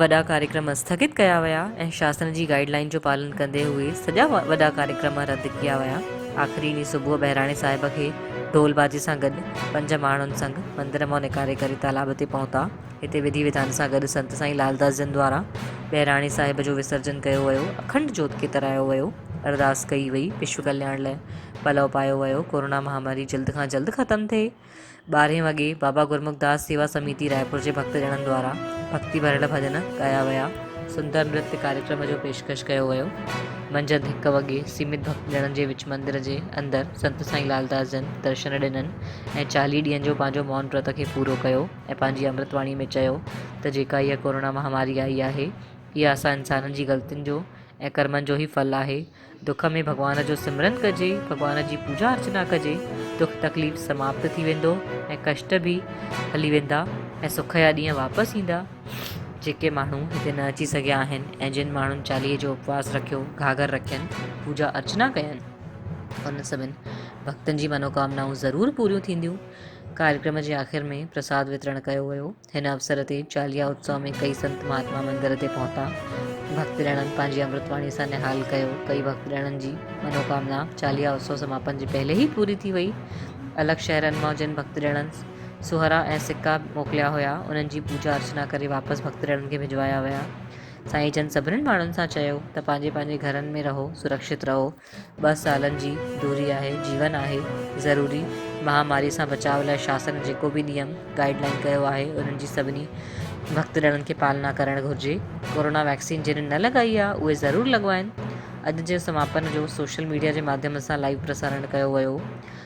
وڏا ڪاريڪرم اسٿگت ڪيا ويا ۽ شاسن جي گائيڊ لائين جو پالن ڪندي هئي سڄا وڏا ڪاريڪرم رد ڪيا ويا آخري ڏينهن صبح بهراڻي صاحب کي ڍول بازي سان گڏ پنج ماڻهن سنگ مندر مان نڪاري ڪري تالاب تي پهتا هتي وڌي وڌان سان گڏ سنت سائين لالداس جن دوارا بهراڻي صاحب جو وسرجن ڪيو ويو اکنڊ جوت کي ترايو ويو ارداس ڪئي وئي وشو ڪلياڻ لاء پلو پايو ويو ڪورونا مهاماري جلد کان جلد ختم ٿئي ٻارهين وڳي بابا گرمکداس سيوا سميتي رائپور جي ڀڳت ڄڻن دوارا ڀڳتي ڀريل ڀڄن ڳايا ويا. سندر نرت ڪاريڪرم جو پيشڪش ڪيو ويو. منجهند هڪ وڳي سيمت ڀڳت ڄڻن جي وچ مندر جي اندر سنت سائين لعلداس جن درشن ڏنن ۽ چاليهه ڏينهن جو پنهنجو مون ورت کي پورو ڪيو ۽ پنهنجي امرت واڻي ۾ چيو ته جيڪا اها ڪورونا مهاماري آئي آهي اها اسان انسانن جي غلطين جو ۽ ڪرمن جو ئي ڦل آهي دک ۾ ڀڳوان جو سمرن ڪجي، ڀڳوان جي پوڄا ارچنا ڪجي، دک تڪليف سماپت ٿي ويندو ۽ ڪشٽ به هلي ويندا ۽ سک جا ڏينهن واپس ايندا. جيڪي ماڻهو هتي نه اچي سگهيا آهن ۽ جن ماڻهن چاليهي جو اپواس رکيو، گهاگهر رکين، پوڄا ارچنا ڪين، انهن سڀن ڀڳتن جي منوڪامنائون ضرور پوريون ٿينديون. ڪاريڪرم جي آخر ۾ پرساد وترڻ ڪيو ويو. هن اوسر تي چاليها اتسو ۾ ڪئي سنت مهاتما مندر تي پهتا، ڀڳت ڏڻن پنهنجي امرت واڻي سان نهال ڪيو، ڪئي ڀڳت ڏڻن جي منوڪامنا چاليها اتسو سماپن جي پهلي ئي پوري ٿي وئي، الڳ شهرن مان جن ڀڳت ڏڻن سهرا ۽ سڪا موڪليا هيا، انهن جي پوڄا ارچنا ڪري واپس ڀڳت ڏڻن کي ڀجوايا ويا، سائين جن سڀني ماڻهن سان چيو ته پنهنجي پنهنجي گهرن ۾ رهو، سرڪشت رهو، ٻه سالن جي دوري آهي، جيون آهي، ضروري مهاماري سان بچاء لاء شاسن جيڪو به نيم، گائيڊ لائين ڪيو آهي، انهن جي سڀني ڀڳتڙڻن کي پالنا ڪرڻ گهرجي. ڪورونا ويڪسين جنهن نه لڳائي آهي، اهي ضرور لڳوائين. اڄ جي سماپن جو سوشل ميڊيا جي ماڌيم سان لائيو پرسارڻ ڪيو ويو.